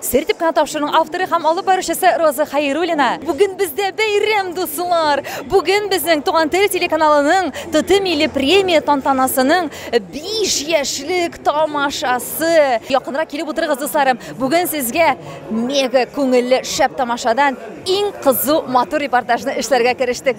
Сер дип кенә тапшыруның авторы һәм алып баручысы Роза Хәйруллина. Бүген бездә бәйрәм, дуслар! Бүген безнең Туган тел телеканалының ТТ милли премия тантанасының 5 яшьлек тамашасы. Якынрак килеп утырыгыз, дусларым. Бүген сезгә мега күңелле шәп тамашадан иң кызу матур репортажны эшләргә керештек.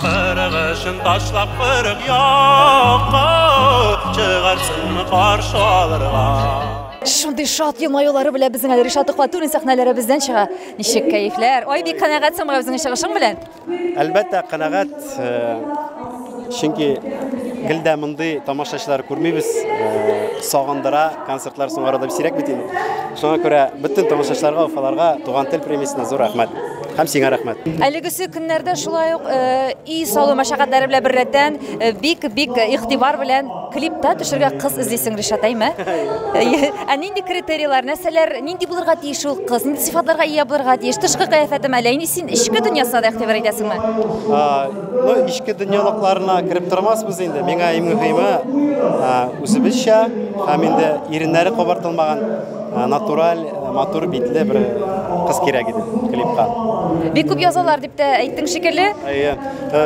Кырык өчен ташлап кырык якка, чыгарсыңмы каршы алырга? Шундый шат елмаюлары белән безнең әле Ришат Төхвәтуллин сәхнәләребездән чыга. Ничек кәефләр? Ай, бик канәгатьсең менә безнең чыгышың белән. Әлбәттә, канәгать. Э, чөнки гел дә мондый тамашачылар күрмибез. Э, сагындыра, концертлар соңарада бисирәк бит инде. Шуңа күрә бөтен тамашачыларга, уфаларга туган тел премиясенә зур рәхмәт. Һәм сиңа рәхмәт. Әлегесе көннәрдә шулай ук э, и салу мәшәкатьләре белән беррәттән э, бик бик игътибар белән клипта төшергә кыз эзлисең, Ришат, әйме? Ә нинди критерийлар, нәрсәләр, нинди булырга тиеш ул кыз, нинди сыйфатларга ия булырга тиеш? Тышкы кыяфәтем әле, инде син эчке дөньясына да игътибар итәсеңме? Ну, ичке дөньялыкларына кереп тормасбыз инде. Миңа иң мөһиме үзебезчә һәм инде иреннәре кабартылмаган Э, натураль э, матур битле бер кыз кирәк иде клипка бик күп язалар дип тә әйттең шикелле әйе э,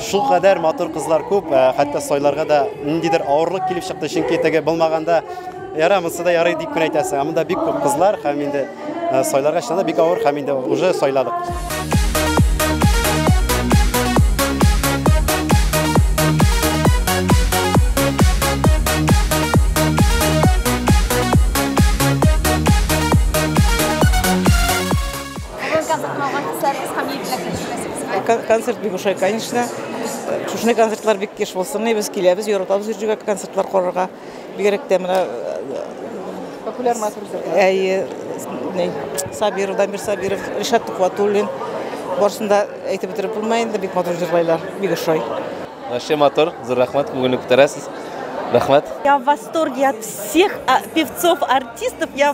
шул кадәр матур кызлар күп хәтта сайларга да ниндидер авырлык килеп чыкты чөнки теге булмаганда яра монысы да ярый дип кенә әйтәсең ә монда бик күп кызлар һәм инде сайларга чыннан да бик авыр һәм инде уже сайладык концерт бик ошый конечно шушындай концертлар бик еш булсын без киләбез яратабыз җирҗүгә концертлар карарга Бигрәк тә менә популяр матур җырлар. Әйе, ни, Сабиров, Дамир Сабиров, Ришат Тукватуллин. Барсын да әйтеп бетереп булмый инде, бик матур җырлайлар, бик ошый. Вообще матур, зур рәхмәт, күңелне күтәрәсез. Рәхмәт. Я в восторге от всех а, певцов, артистов. Я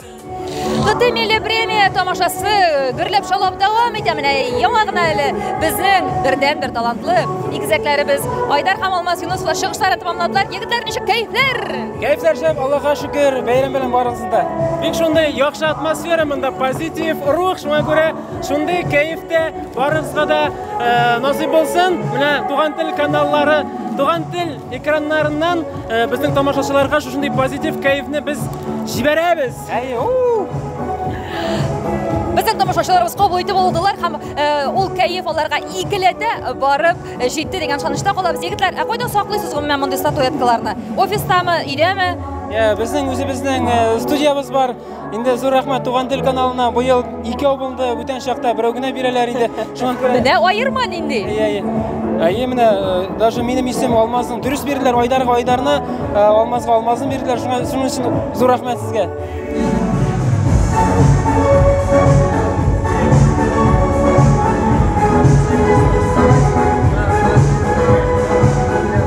Кытай милли премия тамашасы гөрләп шаулап дәвам итә. Менә яңа гына әле безнең бердәнбер талантлы игезәкләребез Айдар һәм Алмаз Юнусова чыгышларын тәмамладылар. Егетләр, ничек кәефләр? Кәефләр шәп, Аллаһка шөкер, бәйрәм белән барыгыз да. Бик шундый яхшы атмосфера монда, позитив рух, шуңа күрә шундый кәефтә барыгызга да э, насыйп булсын. Менә Туган тел каналлары, Туган тел Экраннарыннан э, безнең тамашачыларга шушындый позитив кәефне без җибәрәбез. Әйе, уу! Безнең тамашачыларыбыз кабул итеп алдылар һәм э, ул кәеф аларга икеләтә барып э, җитте дигән ышанычта калабыз. Егетләр, ә кайда саклыйсыз гомумән мондый статуэткаларны? Офистамы, өйдәме? Ә, Безнең үзебезнең э, студиябез бар. Инде зур рәхмәт Туган тел каналына. Бу ел ике абылды, бүтән чакта берәү генә бирәләр иде. Шуңа күрә Менә аерма нинди. Әйе, әйе. Әйе, менә э, даже минем исем Алмазның дөрес бирделәр, Айдарга Айдарны, э, Алмазга Алмазны бирделәр. Шуңа шуның өчен зур рәхмәт сезгә.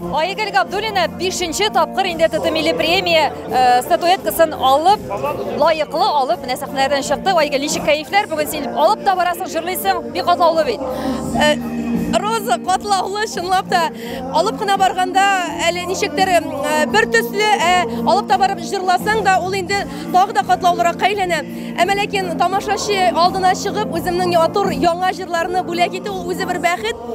Айгөл Габдуллина бишенче тапкыр инде ТТ милли премия э, статуэткасын алып, лаеклы алып, менә сәхнәдән чыкты. Айгөл, ничек кәефләр? Бүген син алып та барасың, җырлыйсың, бик катлаулы бит. Э, Роза катлаулы, чынлап та. Алып кына барганда әле ничектер э, бер төсле, ә алып та барып җырласаң да, ул инде тагы да катлаулырак әйләнә. Әмма ләкин тамашачы алдына чыгып, үземнең ятур яңа җырларны бүләк итү ул үзе бер бәхет.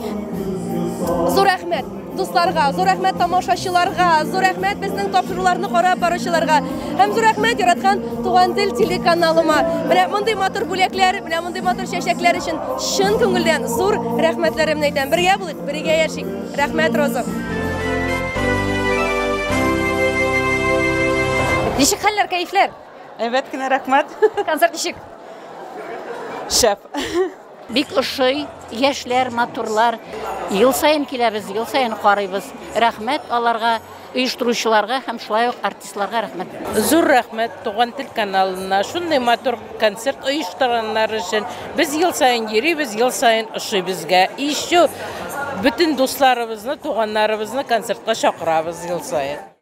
Зур рәхмәт дусларга, зур рәхмәт тамашачыларга, зур рәхмәт безнең тапшыруларны карап баручыларга һәм зур рәхмәт яраткан Туган тел телеканалыма. Менә мондый матур бүләкләр, менә мондый матур чәчәкләр өчен чын күңелдән зур рәхмәтләремне әйтәм. Бергә булыйк, бергә яшик. Рәхмәт, Роза. Ничек хәлләр, кәефләр? Әйбәт кенә, рәхмәт. Концерт ничек? Шәп. Бик ошый, яшьләр, матурлар. Ел саен киләбез, ел саен карыйбыз. Рәхмәт аларга, оештыручыларга һәм шулай ук артистларга рәхмәт. Зур рәхмәт Туган тел каналына, шундый матур концерт оештырганнар өчен. Без ел саен йөрибез, ел саен ошый безгә. И еще бөтен дусларыбызны, туганнарыбызны концертка чакырабыз ел саен.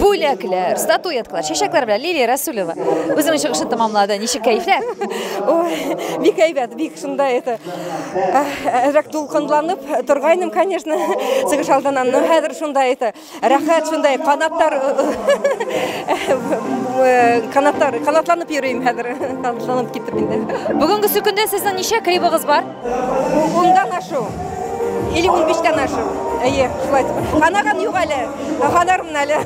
бүләкләр, статуэткалар, чәчәкләр белән Лилия Расулева үзенең чыгышын тәмамлады. Ничек кәефләр? Ой, бик әйбәт, бик шунда это. Әзрәк дулкынланып торгайным, конечно, чыгыш алдыннан. Но хәзер шунда это. Рәхәт шундай канаттар канаттар канатланып йөрим хәзер. Канатланып китеп инде. Бүгенге сөкендә сезнең ничә клибыгыз бар? Ундан ашу. Или он биштән ашу. Әйе, шулай. Ханаган юк әле. Ханармын әле.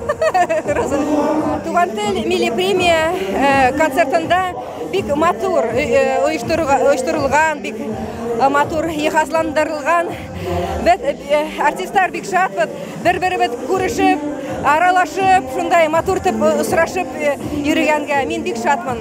Туган тел милли премия э, концертында бик матур э, э, оештырылган, бик матур ехазландырылган. Без артистлар бик шатбыз, бер-беребез күрешеп, аралашып, шундай матур итеп сорашып йөргәнгә мин бик шатмын.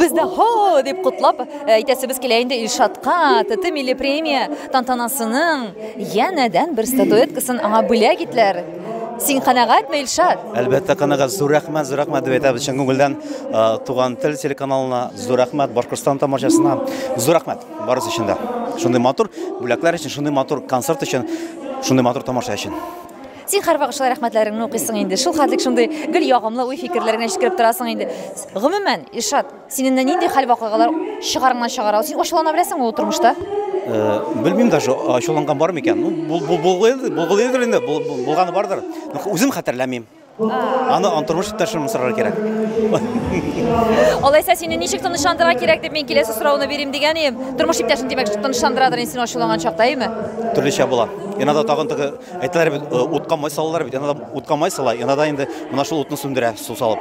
Без дә һо дип котлап э, әйтәсебез килә инде Илшатка ТТ милли премия тантанасының янәдән бер статуэткасын аңа бүләк итләр. Син канәгатьме, Илшат? Әлбәттә, канәгать. Зур рәхмәт, зур рәхмәт дип әйтәбез чын күңелдән э, Туган тел телеканалына, зур рәхмәт Башкортстан тамашасына. Зур рәхмәт барысы өчен дә. Шундый матур бүләкләр өчен, шундый матур концерт өчен, шундый матур тамаша өчен. Син һәрвакыт шулай рәхмәтләреңне укыйсың инде. Шул хәтлек шундый гел ягымлы уй фикерләреңә җиткереп торасың инде. Гомумән, Илшат, синен нинди хәл вакыйгалар чыгарыңнан чыгара? Син ачулана беләсеңме ул тормышта? Э, белмим даже ачуланган бар микән ну булгылыйдыр инде булганы бардыр үзем хәтерләмим аны тормыш иптәшем сорарга кирәк алайса сине ничек тынычландырырга кирәк дип мин киләсе сорауны бирим дигән идем тормыш иптәшең димәк тынычландырадыр инде син ачуланган чакта әйеме төрлечә була иногда тагын теге Әйтәләр бит, э, утка май салалар бит, янадан утка май сала, янадан инде менә шул утны сүндерә су салып.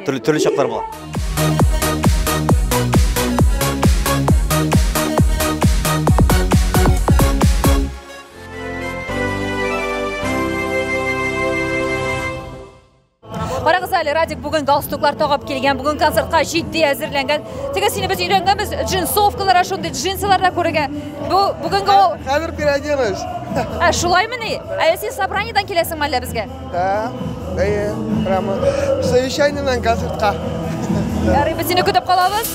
Төрле төрле чаклар була. Карагыз әле, Радик бүген галстуклар тагып килгән, бүген концертка җитди әзерләнгән. Теге сине без өйрәнгәнбез, джинсовкалар, шундый джинсылар да күрергә. Бу бүгенге ул. Хәзер переоденусь. Ә шулаймы ни? Әле син собраниедан киләсеңме әллә безгә? Да. Әйе, прямо совещаниеннан концертка. Ярый, без сине көтеп калабыз.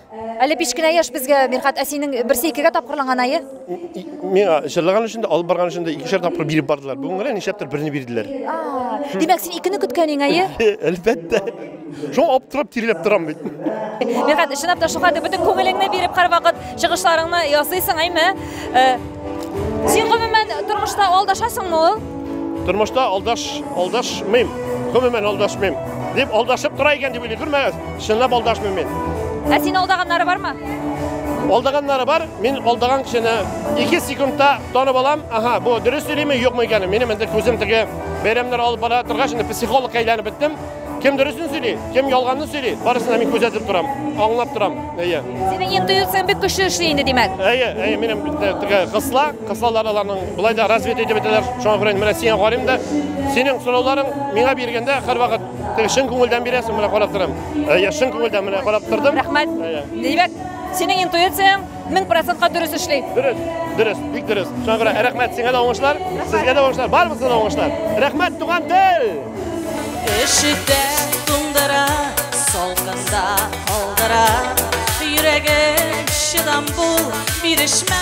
Әле биш кенә яшь безгә, Мирхат, ә синең берсе икегә тапкырланган ае? Миңа җырлаган өчен дә, алып барган өчен дә икешәр тапкыр биреп бардылар. Бүген генә нишләптер берне бирделәр. Димәк, син икене көткәнең ае? Әлбәттә. Шуңа аптырап тиреләп торам бит. Мирхат, чынлап та шуңа дип бөтен күңелеңне биреп һәрвакыт чыгышларыңны ясыйсың, әйме? Син гомумән тормышта алдашасыңмы ул? Тормышта алдаш, алдашмыйм. Гомумән алдашмыйм. Дип алдашып тора икән дип уйлый күрмәгез. Чынлап алдашмыйм мин. Ә син алдаганнары бармы? Алдаганнары бар. Мин алдаган кешене 2 секундта танып алам. Ага, бу дөрес сөйлиме, юкмы икәнен. Минем инде күзем теге бәйрәмнәр алып бара торгач, инде психологка әйләнеп беттем. Кем дөресен сөйли, кем ялганны сөйли, барысына мин күзәтеп торам, аңлап торам. Әйе. Синең интуицияң бик көчле эшли инде, димәк. Әйе, әйе, минем теге кысла, кыслалар аларның былай да развит итеп әйтәләр. Шуңа күрә менә сиңа карыйм да, синең сорауларың миңа биргәндә һәрвакыт Теге чын күңелдән бирәсең, менә карап торам. Әйе, чын күңелдән менә карап тордым. Рәхмәт. Әйе. Димәк, синең интуицияң 1000% дөрес эшли. Дөрес, дөрес, бик дөрес. Шуңа күрә рәхмәт сиңа да уңышлар, сезгә дә уңышлар, барыбызга да уңышлар. Рәхмәт, туган тел! Эшетә туңдыра, салкында калдыра, йөрәгем чыдам бул, бирешмә.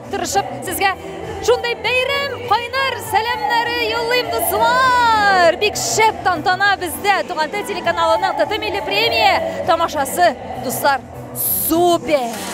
Тырышып сезгә шундый бәйрәм кайнар сәламнәре юллыйм дуслар. Бик шәп тантана бездә Туган тел телеканалының ТТ милли премия тамашасы дуслар. Супер!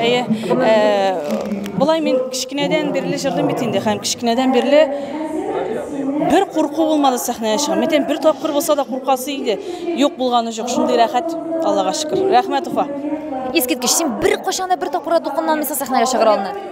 Әйе, э, болай мин кечкенәдән бирле җырлыйм бит инде һәм кечкенәдән бирле бер курку булмады сәхнәгә чыгам. Мин бер тапкыр булса да куркасы иде. Юк булганы жоқ. Шундый рәхәт, Аллага шөкер. Рәхмәт, Уфа. Искиткеч, син бер кашанда бер тапкырда дулкынланмыйсың сәхнәгә чыгыр алдыннан.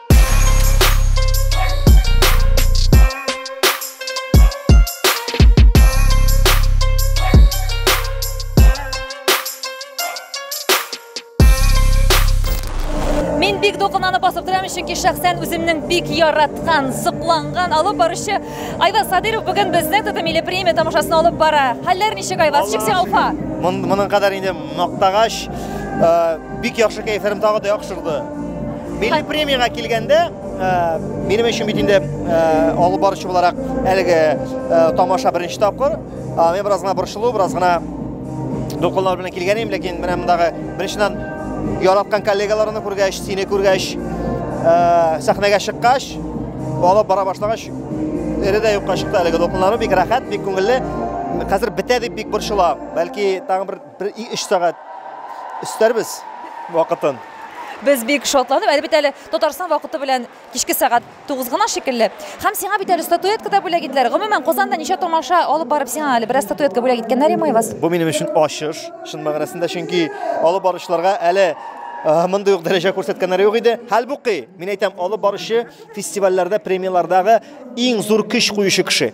бик дулкынлана басып торам чөнки шәхсән үземнең бик яраткан сокланган алып баручы айваз садыров бүген безнең татар милли премия тамашасын алып бара хәлләр ничек айваз чиксең алфа моның кадәр инде мактагач э, бик яхшы кәефләрем тагы да яхшырды Милли премиягә килгәндә, минем өчен бит инде алып баручы буларак әлеге тамаша беренче тапкыр. Мин бераз гына борчылу, бераз гына дулкынлар белән килгән идем, ләкин менә мондагы беренчедән яраткан коллегаларны күргәч, сине күргәч, сәхнәгә чыккач, алып бара башлагач, эре дә юкка чыкты әлеге дулкынларым, бик рәхәт, бик күңелле. Хәзер бетә дип бик борчыла. Бәлки тагын бер Бер өч сәгать өстәрбез вакытын. Без бик шатланып, әле бит әле Татарстан вакыты белән кичке сәгать 9 гына шикелле. Һәм сиңа бит әле статуэтка да бүләк иттеләр. Гомумән, Казанда ничә томаша алып барып сиңа әле бераз статуэтка бүләк иткәннәр имай вас? Бу минем өчен ачыш, чын мәгънәсендә, чөнки алып баручыларга әле мондый ук дәрәҗә күрсәткәннәре юк иде. Хәлбуки, мин әйтәм, алып баручы фестивальләрдә, премияләрдәге иң зур көч куючы кеше.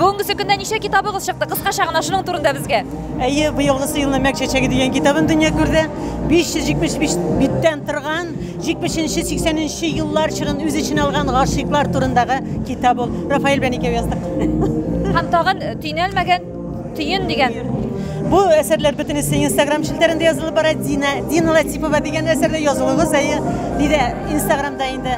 Бүгенгесе көндә ничә китабыгыз чыкты? Кыскача гына шуның турында безгә. Әйе, быелгысы елны Мәк чәчәге дигән китабым дөнья күрде. 575 биттән торган, 70-80 еллар чорын үз эченә алган гашыйклар турындагы китап ул. Рафаэль белән икәү яздык. Һәм тагын э, төйнәлмәгән төен дигән. Бу әсәрләр бөтенесе Инстаграм челтәрендә язылып бара. Дина, Дина Латипова дигән әсәрдә язылыгыз әйе, диде Инстаграмда инде.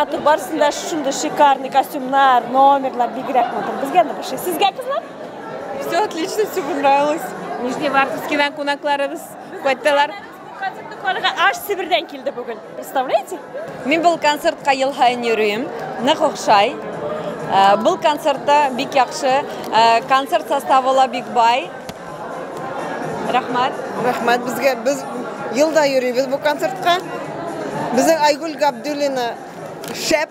матур барысын да шушындай шикарный костюмнар номерлар бигерәк матур безгә нык ошый сезгә кызлар все отлично все понравилось нижневартовскийдан кунакларыбыз кайттылар Концерт тукларга аш Себердән килде бүген. Представляете? Мин бул концертка ел һаен йөрим. Нык охшай. Э, бул концертта бик яхшы. Э, концерт составы ла бик бай. Рәхмәт. Рәхмәт безгә. Без елда йөрибез бу концертка. Безнең Айгөл Габдуллина шәп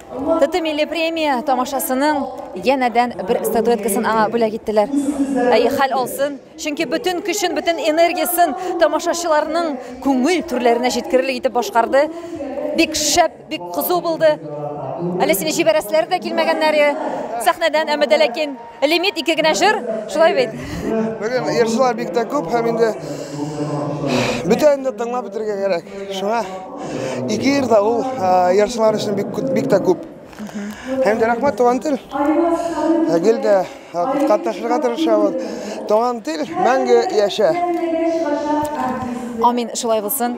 ТТ милли премия тамашасының янәдән бер статуэткасын аңа бүләк иттеләр. Әй, хәл алсын, чөнки бөтен көчен, бөтен энергиясен тамашачыларның күңел түрләренә җиткерерлек итеп башкарды. Бик шәп, бик кызу булды. Әле сине җибәрәселәре дә килмәгәннәр сәхнәдән, әмма дә ләкин Лимит ике генә җыр, шулай бит. Бүген җырчылар бик тә күп һәм инде бөтен дә тыңлап бетергә кирәк. Шуңа ике җыр да ул җырчылар өчен бик бик тә күп. Һәм дә рәхмәт туган тел. Гел дә катнашырга тырышабыз. Туган тел мәңге яшә. Амин, шулай булсын.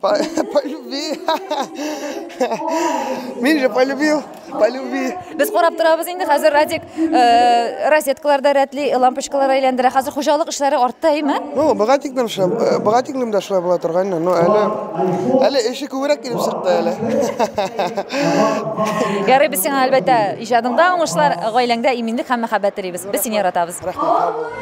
По, по любви. Мин же полюбил, по любви. Без карап торабыз инде хәзер Радик э, розеткаларда рәтли лампочкалар әйләндерә. Хәзер хуҗалык эшләре артта, әйме? Ну, богатикнем шулай, э, богатикнем дә шулай була торган инде. Ну, әле әле эше күбрәк килеп чыкты әле. Ярый, без сиңа әлбәттә иҗадыңда уңышлар, гаиләңдә иминлек һәм мәхәббәт телибез. Без сине яратабыз. Рәхмәт.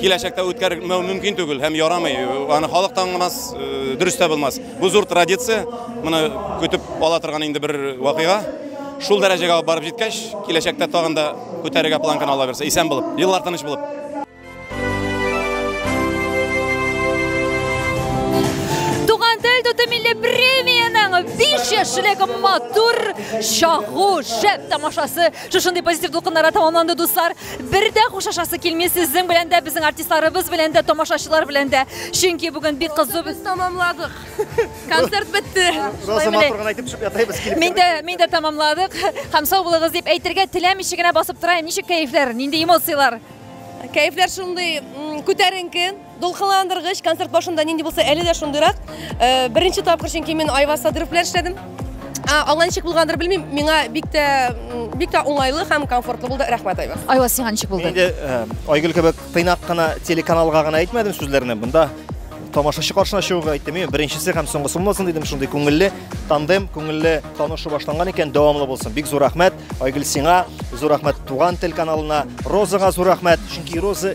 киләчәктә үткәрмәү мөмкин түгел һәм ярамый. Аны халык та аңламас, э, дөрес тә булмас. Бу зур традиция, моны көтеп ала торган инде бер вакыйга. Шул дәрәҗәгә алып барып җиткәч, киләчәктә тагын да күтәрергә планканы ала бирсә, исән булып, еллар тыныч булып. Туган тел туты милли премияның биш яшьлек матур чагу шәп тамашасы Шушындый позитив дулкыннарга тәмамланды, дуслар. Бер дә хушлашасы килми сезнең белән дә, безнең артистларыбыз белән дә, тамашачылар белән дә. Чөнки бүген бик кызу Без тәмамладык. Концерт бетте. Роза матур гына әйтеп төшеп ятабыз килеп. Мин дә мин дә тәмамладык. Һәм сау булыгыз дип әйтергә теләмичә генә басып тора. Ничек кәефләр, нинди эмоцияләр? Кәефләр шундый м, күтәренке. Дулкынландыргыч концерт башында нинди булса, әле дә шундыйрак. Э, беренче тапкыр чөнки мин Айваз Садыров белән эшләдем. Алга ничек булгандыр белмим, миңа бик тә бик тә уңайлы һәм комфортлы булды. Рәхмәт, Айваз. Айваз, сиңа ничек булды? Инде э, Айгөл кебек тыйнак кына телеканалга гына әйтмәдем сүзләрне. Монда тамашачы каршына чыгуга әйттем. Мин беренчесе һәм соңгысы булмасын дидем. Шундый күңелле тандем, күңелле танышу башланган икән, дәвамлы булсын. Бик зур рәхмәт Айгөл сиңа, зур рәхмәт Туган телеканалына, Розага зур рәхмәт, чөнки Роза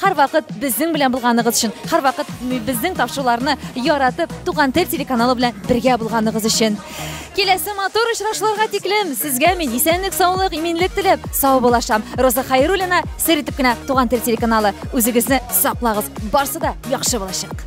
Һәрвакыт безнең белән булганыгыз өчен, һәрвакыт безнең тапшыруларны яратып, Туган тел телеканалы белән бергә булганыгыз өчен. Киләсе матур очрашуларга тиклем сезгә мин исәнлек, саулык, иминлек теләп, сау булашам. Роза Хайруллина, сер итеп кенә Туган тел телеканалы. Үзегезне саклагыз. Барсы да яхшы булачак.